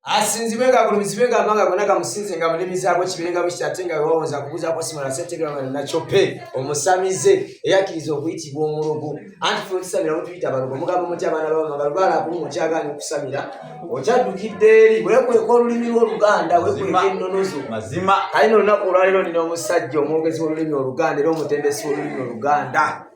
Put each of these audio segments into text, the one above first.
asinzibwe nga agulumizibwe nga amanga gona gamusinze nga mulimi zaabwe kibire nga bwekiti ate nga wewawonza kubuuza kwasimala asetegeranga nakyope omusamize eyakkiriza okuyitibwa omulogo anti fe otusamira mutuyita abalogo mugamba muti abaana babamabalubala akumu okyagaana okusamira okyaddukidde eri wekweka olulimi lwoluganda wekweka ennonozo mazima kali no olunaku olwaliro nina omusajja omwogezi wolulimi oluganda era omutendesi wolulimi oluganda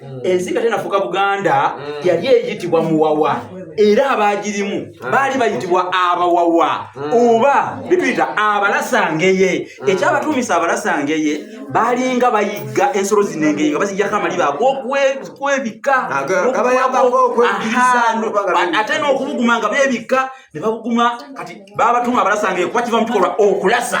mm. ensi nga tenafuuka buganda mm. yali eyitibwa muwawa era abaagirimu mm. baali bayitibwa abawawa oba bituyita abalasangeye ekyabatuumisa abalasangeye baalinga bayigga ensolo zinengeye nga bazijjako amaliba ag'okwebikka ate n'okubuguma nga beebikka ne babuguma kati baabatuuma abalasangeye kuba kiva mu kikolwa okulasa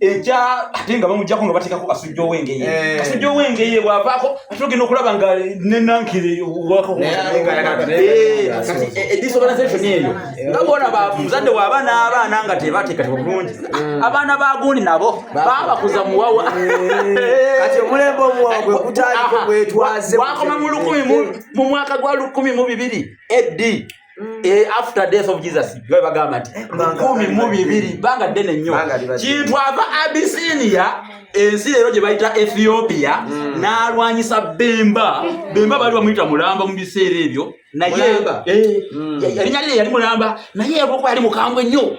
eja ate nga bamujjako nga bateekako kasujja owengeye eh. kasujja owengeye bwavaako ate ogenda okulaba nga nenankire edisorganisation eyo nga bolaba muzadde waaba n'abaana nga tebateekateeka bulungi mm. abaana bagundi nabo babakuza muwawa wakoma mu lukumi mu mwaka gwa lukumi mu bibiri edi Mm. Eh, after death of Jesus bwe bagamba nti lukumi eh, mu bibiri bbanga ddene nnyo kintu ava abisinia ensi leero gye bayita ethiopia mm. n'alwanyisa bemba bemba baali bamuyita mulamba mu biseera ebyo naye eh, mm. yali yali mulamba naye olwokuba yali mukambwe nnyo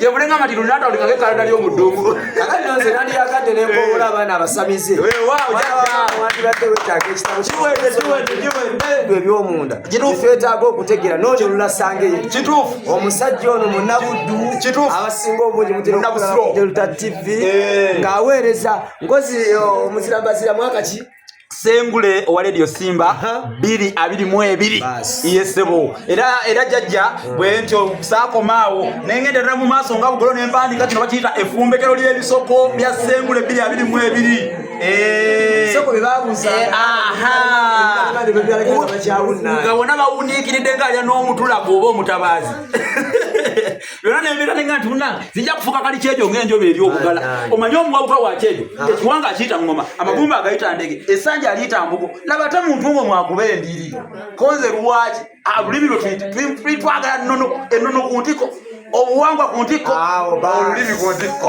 yebulenga nga tino natandikako ekalada ly'omudungu kakati nonze nandiyagadde nekowola eh. abaana abasamize wandibadde wetaaga ekitabo kiweddekiwedde ebyomunda twetaaga okutegeera noonya olulasanga eyo kituufu omusajja ono munabuddu kituufu abasinga obungi mutinaokuaa delta tv eh. ng'aweereza ngozi eh, omuzirambazira mwaka ki sengule owa radio simba biri abiri mu ebiri yesebo era era jajja hmm. bwentyo sakomaawo nengenderera mu maaso nga bugolo nempandika kino bakiyita efumbekero ly'ebisoko bya sengule biri abiri mu ebiri eh. eh, nga bona bawuniikiridde ngaalya n'omutulago oba omutabaazi era nembeera nenga nti munange zijja kufuka kali kyejo ng'enjoba eri okugala omanye omuwawuka wa kyejo ah. ekiwanga akiyita ŋŋoma eh. amagumba agayita ndege esanja aliyita mbugo laba te muntu ng'o mwakuba endiri konze lwaki ah, olulimi lwe twagala ennono ku ntiko obuwangwa ku ntikko olulimi ku ntikko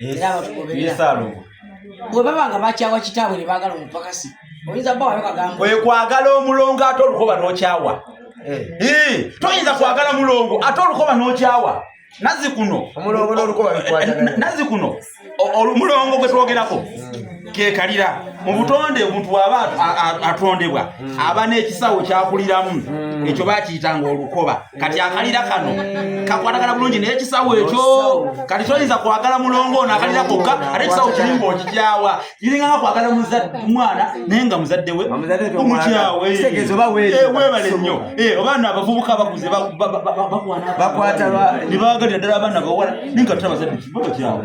era abatugobereraesaalongo bwe baba nga bakyawa kitaabwe ne baagala omupakasi oyinza bba wayo kagambo ekwagala omulongo ate olukoba n'okyawa eh. toyinza kwagala mulongo ate olukoba n'okyawa nazi kuno nazi kuno omulongo gwe twogerako kekalira mu butonde omuntu aba atondebwa hmm. aba n'ekisawo kyakuliramu hmm. ekyo bakiyitanga olukoba kati akalira kano kakwatagana bulungi naye ekisawo ekyo kati toyinza kwagala mulongo ono akalira kokka ate ekisawo kiringa okikyawa kiringa nga kwagala mwana naye nga muzadde we omukyawe webale nnyo oba no abavubuka bakuze bakwananebaagalira ddala abaana bawala naye nga tutabazadde kibabakyawe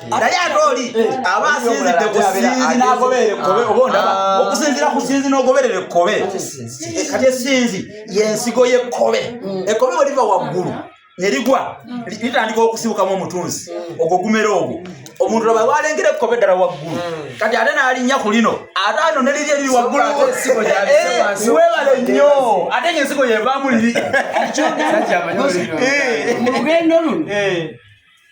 naye ate oli aba asinzidde ku sinzi n'agoberera ekkobe oba ondaba okusinzira ku sinzi n'ogoberera ekkobe kati esinzi y'ensigo y'ekkobe ekkobe bwe liva waggulu ne ligwa litandika okusibukamu omutunzi ogwo gumera ogwo omuntu laba walengera ekkobe ddala waggulu kati ate n'alinnya ku lino ate ano ne liri eriri waggulu webale nnyo ate ng'ensigo yevaamu liri mu lugendo luno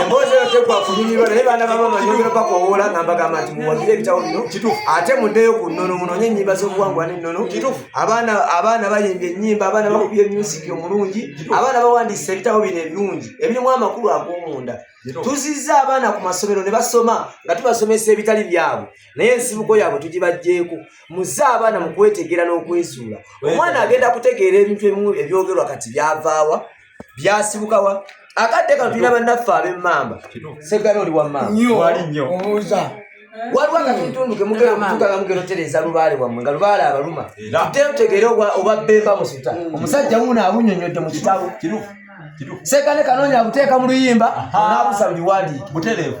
emboozi eyo tekwafunyumirwa naye baana baba banyongera bakowoola nga mbagamba nti muwagire ebitabo bino ate muddeyo ku nnono munonye ennyimba z'obuwangwa n'ennono abaana abaana bayimbye ennyimba abaana bakubye musiki omulungi abaana bawandiisa ebitabo bino ebirungi ebirimu amakulu ag'omunda tuzizza abaana ku masomero ne basoma nga tubasomesa ebitali byabwe naye ensibuko yaabwe tugibajjeeko muze abaana mu kwetegeera n'okwezuula omwana agenda kutegeera ebintu ebimu ebyogerwa kati byavaawa byasibukawa akadde kano tulina bannaffe ab'emmamba segana oli wammambawali nnyo obuuza waliwo akatuntundu kemugera okutuuka nga mugera otereeza lubaale wammwe nga lubaale abaluma ate otegeere oba bemba musuta mm. omusajja wuuno abunyonyodde mu kitabo sekane kanoonya abuteeka mu luyimba naabusa mu biwandiiki butereevu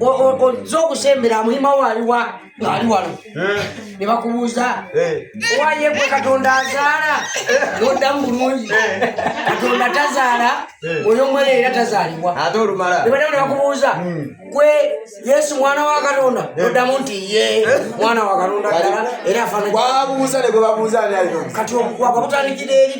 ozze okusembera muhima wo aliwa ngaali wano ne bakubuuza owaye gwe katonda azaala noddamu bulungi katonda tazaala oyo omwene era tazaalibwa nebaddamu ne bakubuuza gwe yesu mwana wa katonda noddamu nti ye mwana wa katonda ddala era afaanakati obukwaga butandikira eri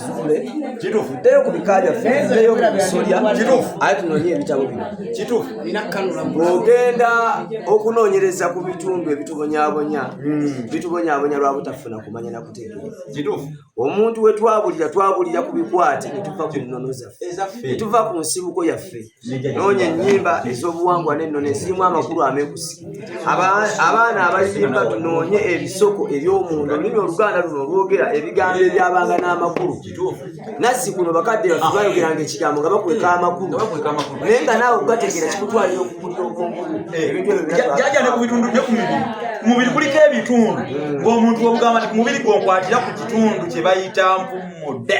tusitule tuddeyo ku bika byaffe tuddeyo ku bisolya aye tunoonye ebitabo bino ogenda okunoonyereza ku bitundu ebitubonyabonya hmm. bitubonyabonya lwa butafuna kumanya na kutegeera omuntu we twabulira twabulira ku bikwate ne tuva ku nnono zaffe ne tuva ku nsibuko yaffe noonya ennyimba ez'obuwangwa n'ennono ezirimu amakulu amekusi abaana abayimba tunoonye ebisoko eby'omunda olulimi oluganda luno olwogera ebigambo ebyabanga n'amakulu nazzi kuno bakadde baffe bayogeranga ekigambo nga bakweka amakulu naye nga naawe okugategeera kikutwalira okukutta obwongo ebintu ebyomubiri kuliko ebitundu ng'omuntu ogamba nti kumubiri gwonkwatira ku kitundu kye bayita mpumudde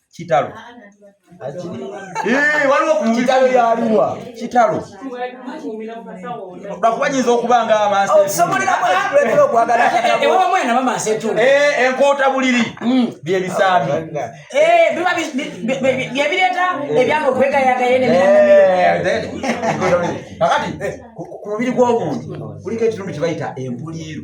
kitalo eh, waliwo kitalo yaliwa kitalo lwakuba nyinza okuba nga amanseenkoota buliri hmm. byebisaami eh, byebireeta ebyanga okwegayagayeneakati eh, ku mubiri gw'omuntu kuliko ekitundu kyebayita empuliiru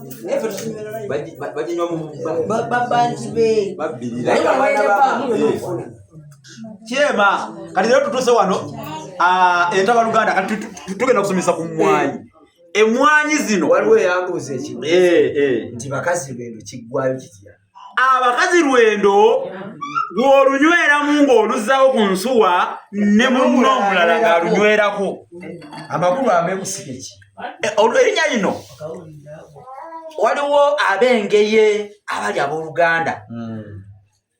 baginywa mu babanji be kyema kati lero tutuuse wano ah, entaba luganda kati tugenda okusomesa ku mwanyi emwanyi zino waliwo eyambuuza ekimu eh, eh. nti bakazi bendo kiggwayo kitya abakazi lwendo gw'olunyweramu ng'oluzzawo ku nsuwa ne munno omulala ng'alunywerako amakulu ameekusikeki eh, erinnya lino waliwo ab'engeye abali abooluganda hmm.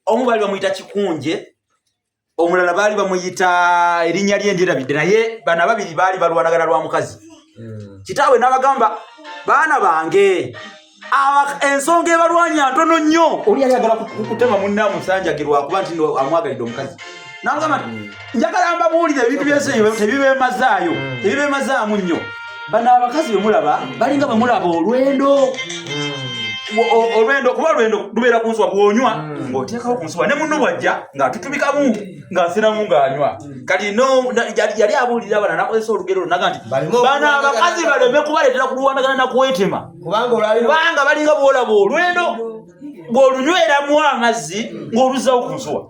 omu bali bamuyita kikunje omulala baali bamuyita erinnya lye ndirabidde naye bana babiri baali balwanagana lwa mukazi hmm. kitaawe n'abagamba baana bange ensonga ebalwanya ntono nnyo oli yali agala kutema munna musanjagirwakuba nti amwagalidde omukazi nangamba hmm. njagala mbabuulire ebintu byensi tebibemazaayo hmm. tebibemazaamu nnyo bano abakazi bemulaba balinga bemulaba olwendo hmm. olwendo kuba olwendo lubeera ku nsuwa bwonywa hmm. ng'oteekawo ku nsuwa ne munno bwajja ng'atutubikamu ng'asiramu ng'anywa hmm. kati yali abuulira abana nakozesa olugero lunaga nti bano abakazi baleme kubaleetera kulwanagana na kwetema kubanga balinga bwolaba olwendo ng'olunyweramu amazzi ng'oluzzawo ku nsuwa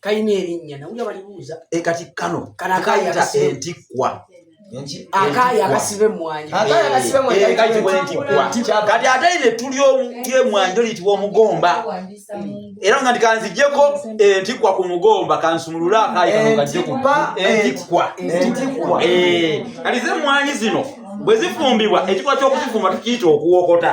kalina erinnya nawulira balibuuza e kati kano kanakayita entikkwa akaayi akasiba emmwanyi kati ate ino ettuli ly'emmwanyi to liyitibwa omugomba era nga ndi kanzijeko entikkwa ku mugomba kansumulule akaayi kanogajjekuba entikkwa kati ze emmwanyi zino bwe zifumbibwa ekikolwa ky'okuzifumba tukiyita okuwokota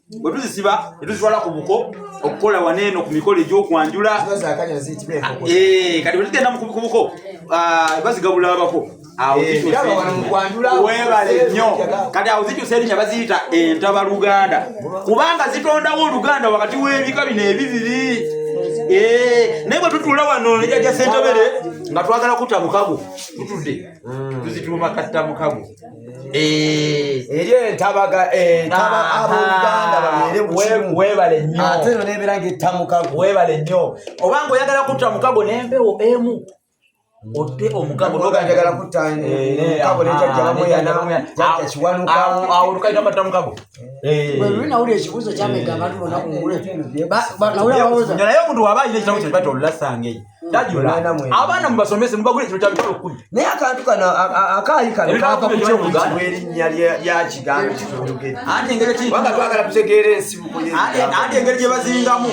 bwe tuzisiba ne tuzitwala ku buko okukola wano eno ku mikolo egy'okwanjula eh, kati bwe tugenda ku buko ah, bazigabula abako eh, webale nnyo kati awo zikyusa erinnya baziyita entaba luganda kubanga zitondawo oluganda wakati w'ebika bino ebibiri Eh, naye bwetutula wano nejaja sentebere nga twagala kutta mukago tutudde mm. tuzituuma katta mukago Eh. eri entabaga entaba eh, abooluganda babeere webale nyo ate no nebeera ngaetta mukago webale nyo oba nga oyagala kutta mukago nempewo emu otte omukagoagala kuttaawolukaita matta mukago lwinawuli ekibuzo kyamega abantu bona kungule naye omuntu waba ayina ekitabo kyo kibata olulasangei abaana mubasomese mubagule kino kyabitala okkumi naye akantu kano akaali kano kava ku kyokuyitibwa erinnya lya kigambo kituyogere anti engeri kibanga twagala tutegeera ensibuko anti engeri gye bazingamu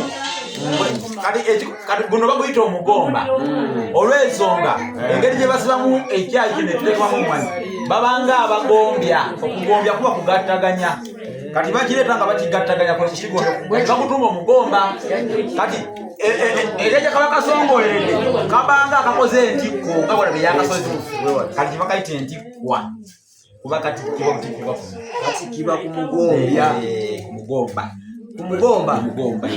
kati guno baguyita omugomba mm. olw'ensonga eh. engeri gye basibamu ekyayi kino ekiteekwamu omwana babanga abagombya okugombya kuba kugattaganya kati bakireeta nga bakigattaganya kwe kukigombya bakutuuma omugomba kati ekyeja kaba kasongoleredde kabanga akakoze entikko nga bona beyakasozi kati kibakayita entikkwa kuba kati kiba butikibwa kuno kati kiba kumugombya kumugomba kumugomba mugomba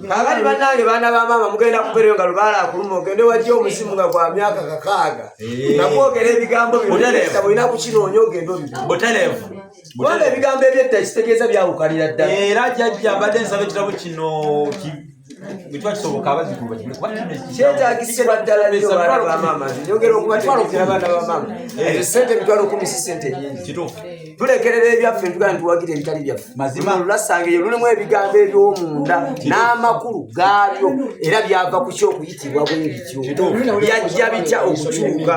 kakati banange baana ba maama mugenda kubereyo nga lubaala akuluma ogende wajja omuzimu nga gwa myaka kakaaga nakwogera ebigambo byoulina kukinoonya ogende obi butelevu kubanga ebigambo ebyetta ekitegeeza byawukanira ddala era jajja mbadde nsaba ekitabo kino kyetagisibwa ddala nyogeraaamaamaesente emitwalo kumi si sente nyingi tulekerera ebyaffe ntugana ntuwagira ebitali byaffe mazima lulasanga eyo lulimu ebigambo ebyomunda n'amakulu gaabyo era byava ku kyokuyitibwa bwebityo byajja bitya okukyuka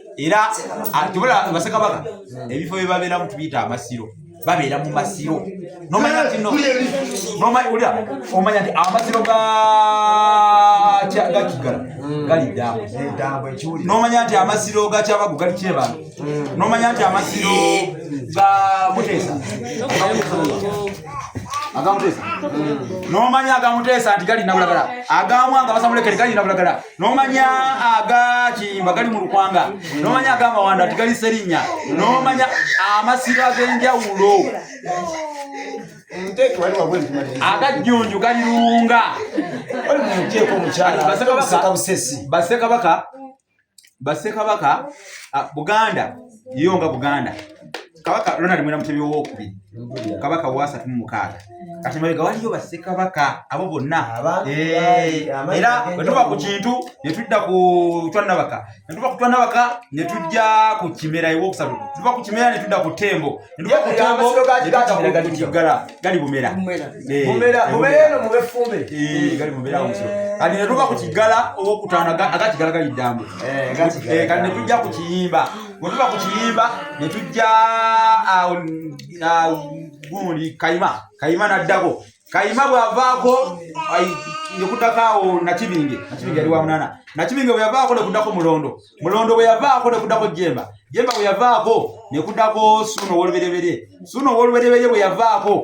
era tubula basekabaka ebifo bye babeeramu tubiyita amasiro babeera mu masiro nomanya nti omanya nti amasiro gakiggala mm. gali ddambo nomanya nti amasiro gakyabagu gali kyebantu mm. nomanya nti amasiro ga muteesa agamutesa mm. nomanya agamuteesa nti gali nabulagala agamwanga basamulekere gali nabulagala nomanya agakimba gali mu lukwanga nomanya agamawanda ti gali serinya nomanya amasiro ag'enjawulo agajjunju gali lunga basekabaka basekabaka buganda yo nga buganda kabaka Ronald Mwera Mutebi ow'okubiri kabaka waasatu mu mukaaga kati mabega waliyo bassekabaka abo bonna eh, era wetuva ku kintu netudda ku twannabaka netuva ku twannabaka netujja ku kimera ewokusatu tuva ku kimera netudda ku tembo netuva ku tembo kiggala gali bumera eh, eh, gali bumera kati netuva ku kiggala owokutaano agakiggala gali ddambu kati netujja ku kiyimba bwe tuba ku kiyimba ne tujja awo gundi kayima kayima n'addako kayima bw'avaako ne kuddako awo nakibinge nakibinge yali wa munana nakibinge bwe yavaako ne kuddako mulondo mulondo bwe yavaako ne kuddako jemba jemba bwe yavaako ne kuddako suuna ow'olubereberye suuna ow'olubereberye bwe yavaako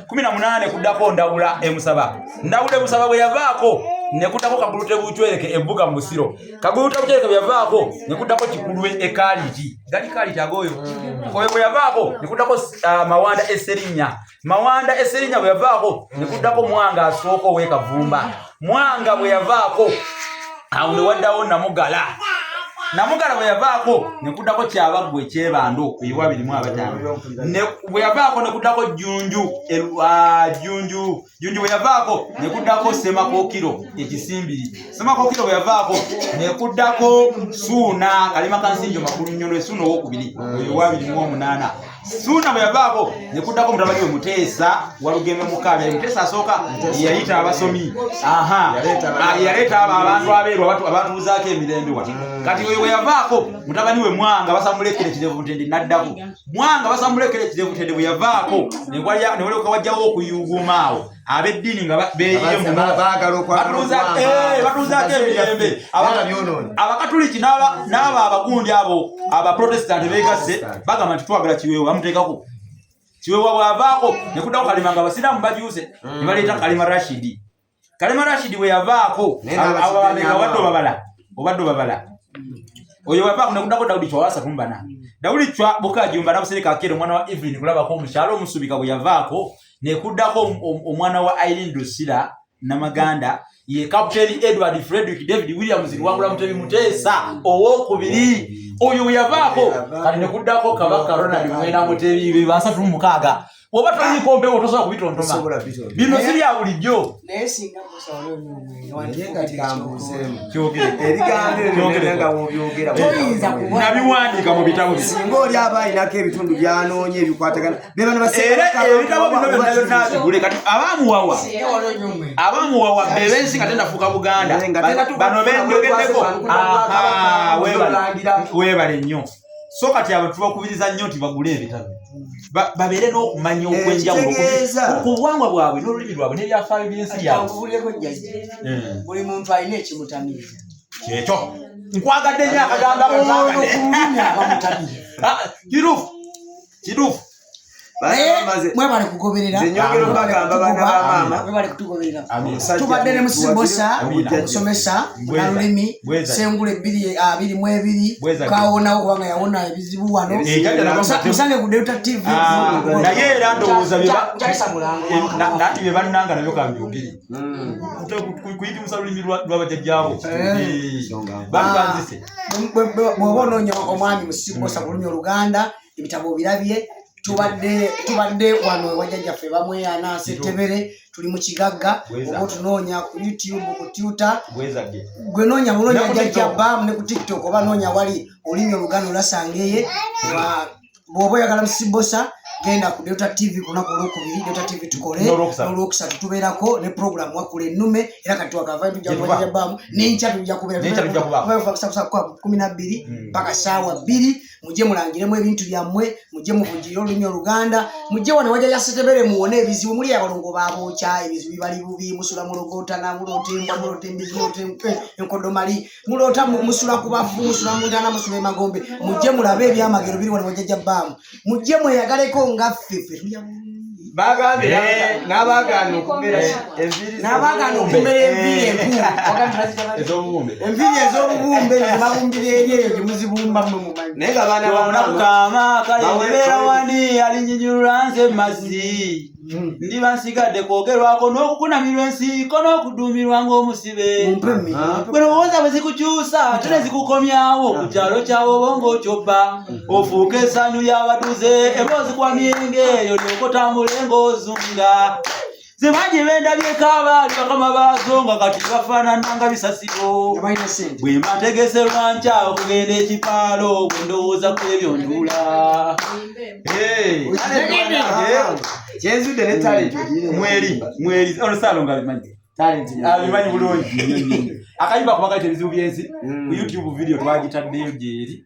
kumi na munaane kuddako ndawula emusaba ndawula emusaba bwe yavaako nekuddako kagulute bucwereke ebuga mu busiro kagulute bucwereke bwe yavaako nekuddako kikulwe ekaliiti gali kaliiti agooyo oyo bwe yavaako nekuddako ah, mawanda eserinnya mawanda eserinnya bwe yavaako nekuddako mwanga asooka ow'ekavumba mwanga bwe yavaako awo ne waddawo namugala namugala bwe yavaako ne kuddako kyabaggwa ekyebando eyiwa birimu abataano bwe yavaako ne kuddako jjunju jjunju jjunju bwe yavaako ne kuddako semakookiro ekisimbiri semakookiro bwe yavaako ne kuddako suuna kalima kansinjo makulu nnyo lwesuuna owokubiri eyiwa birimu omunaana Suuna bwe yavaako ne kuddako mutabani we Muteesa Walugembe Mukaabya. Ye Muteesa asooka ye yayita abasomi, aha, ah, ye yaleeta abo abantu abeeru abatu- abatuuzaako emirembe wano. Kati oyo bwe yavaako mutabani we Mwanga basamulekera ekirevu Butende n'addako. Mwanga basamulekera ekirevu Butende bwe yavaako ne walya- ne walyoka wajjawo okuyuuguuma awo. abeddiini nga beyiyomubaagalaokwabatuuzaako emirembe abakatuliki n'abo abagundi abo abaprotestanti beegasse bagamba nti twagala kiweewo bamuteekako kiweewa bwavaako ne kuddako kalima nga abasiraamu bajuuse mm. ne baleeta kalima rashidi kalima rashidi bwe yavaako ababameka obadde obabala obadde obabala oyo wavaako ne kuddako dawudi kyawasatu mbana dawudi cwa bukajumba nabusereka akeera omwana wa evelyn kulabako omukyalo omusubika bwe yavaako nekuddako omwana wa irene dusira namaganda ye captain edward frederick david williams liwangula mutebi muteesa owokubiri oyo weyavaako kati nekuddako kabaka ronald mwena mutebi bebasatu mumukaaga oba toyikombewo tosobola kubitontoma bino sibya bulijjo nabiwandiika mu bitabo singa oli aba alinako ebitundu byanoonya ebikwatagana ebitabo bino byonna byonnabigule kati abamuwawa abamuwawa bebensi nga tenafuuka buganda bano benjogeddeko webale nnyo so kati abo tubakubiriza nnyo nti bagule ebitabo babeere n'okumanya eh, okwenjawulo ku buwangwa bwabwe n'olulimi lwabwe n'ebyafaayo by'ensi yabwebuleko jjajja hmm. buli muntu alina ekimutamiiza kyekyo nkwagadde nyo akagamba ono ku lulimi abamutamiiza ah, kituufu kituufu mwebale kugoberera tubadde ne musibosa omusomesa nalulimi sengula ebbiri abiri mu ebiri kawonawo kubanga yawona ebizibu wano musange ku delta tv naye era ndowooza nati bye bannanga nabyo kambyogere kuyitimusa lulimi lwabajajjaabo bwoba onoonya omwami musibosa kulumya oluganda mm. ebitabo obirabye tubadde tubadde wano ewajjajja ffe bamweyana setebere tuli mu kigagga oba otunoonya ku youtube ku tuta gwe noonya munoonya jajja bam ne ku tiktok oba noonya wali olimi oluganda olasangeye bwoba oyagala musibosa genda ku delta tv kunaku olwokubiri delta tv tukole nolwokusatu tubeerako ne program wakula enume era kati wakavayo tujakubamu nenkya tujakubeera kumi nabbiri mpaka saawa bbiri mujje mulangiremu ebintu byammwe mujje muvugire olulimi oluganda mujje wano waja yasetebere muwone ebizibu muli abalongo babokya ebizibu bibali bubi musula mulogotana mulota embwa mulota embizi mulota eh, enkodomali mulota musula ku bafu musula muntana musula emagombe mujje mulabe ebyamagero biri wano wajaja baamu mujje mweyagaleko nga ffe ffe bagambye n'abagaana okumera enviiri n'abagaana okumera enviiri enkulu ez'obubumbe enviiri ez'obubumbe ne babumbira eri eyo gye muzibumba mwe mumanyi naye nga baana bamukaama kale nebeera wani alinyinyulula nze mazzi hmm. ndiba nsigadde kwogerwako n'okukunamirwa ensiiko n'okuduumirwa ng'omusibe bwe lowooza bwe zikukyusa ate ne zikukomyawo ku kyalo kyawo oba ng'okyobba ofuuka esanyu ly'abatuze emboozi kwa myenge eyo lyokotambula engoozunga zimanyi bendabyeko abaali bakama baazo nga kati bafaanana nga bisasiro bwe mbategese lwankya okugenda ekipaalo bwe ndowooza ku ebyo ndula kyenzudde ne talenti mweri mweri ono saalo nga bimanyi talenti abimanyi bulungi akayimba kuba kati ebizibu byensi mm. ku youtube video twagitaddeyo gyeri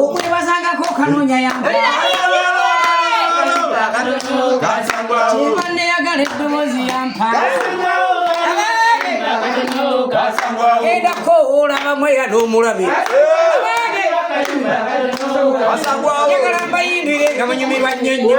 omwebazangako okanoonya yamba neyagala eddoboozi yampa edako olaba mweya n'omulabe yagala mbayindire nga munyumirwa nnyo nnyo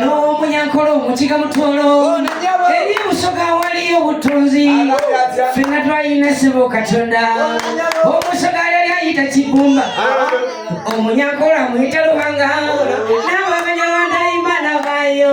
n'omunyankole omukiga mutwolo eri ebusoga waliyo obutunzi fena twalina sebo katonda omusoga yali ayita kibumba omunyankole amuyita luhanga n'abamenya bandaimana bayo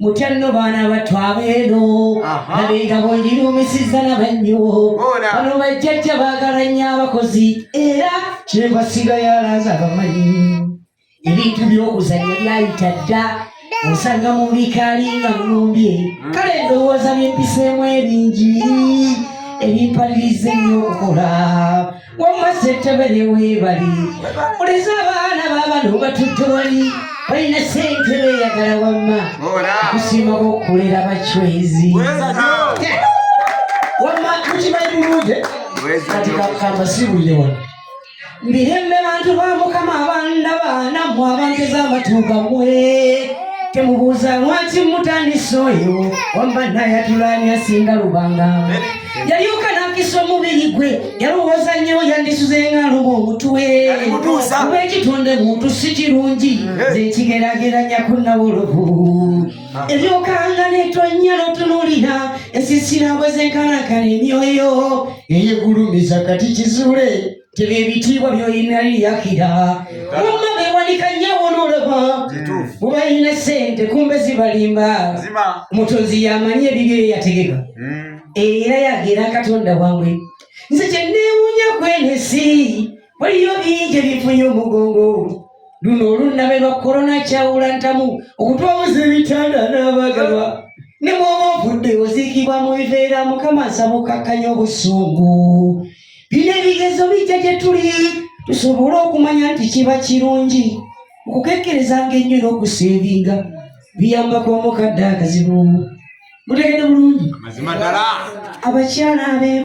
mutanno baana battu abeeno nabenga bonjiruumisiza nabannyo bano bajjajja baagala nnyo abakozi era kyenva sigayalaza bamanyi ebintu by'okuzannya byayita dda osanga mu bikaali nga mulumbye hmm. kale endowooza byempiseemu ebingi ebimpaliriza ennyo okukola wamma ssentebere weebali oleza abaana baabano batudde wali balina ssente beeyagala wamma kusiima bokukolera bacwezi wamma mukimanyi bulungi kati kakamba sibulire wano mbirembe bantu ba mukama abanda baana mu abantu ez'amatuuga mwe temubuuza lwaki mutandisa oyo wamma nayatulaani asinga lubanga yalyoka nakisa omubiri gwe yalowooza nnyo yandisuze nga aluba omutwe kuba ekitonde muntu si kirungi zekigerageranya ku nawolovu ah. ebyokanga netonya notunulira esisira bwezenkanakana emyoyo eyegulumiza kati kizule tebyo ebitiibwa byolina liyakira mumma bewanika nyawo nolaba mubalina sente kumbe zibalimba mutonzi yamanyi ebibyo eyategeka hmm. era yagera katonda wamwe nze kyenewunya kwenesi waliyo bingi ebifunye omugongo luno olunnabe lwa korona kyawula ntamu okutwamuza ebitanda n'abagalwa ne bwoba ovudde oziikibwa mu biveera mukama nsaba okakkanya obusungu bino ebigezo bijja gye tuli tusobole okumanya nti kiba kirungi okukekkerezanga ennyo n'okusinginga biyambako omukadde akazibu mutegede bulungi abakyala abe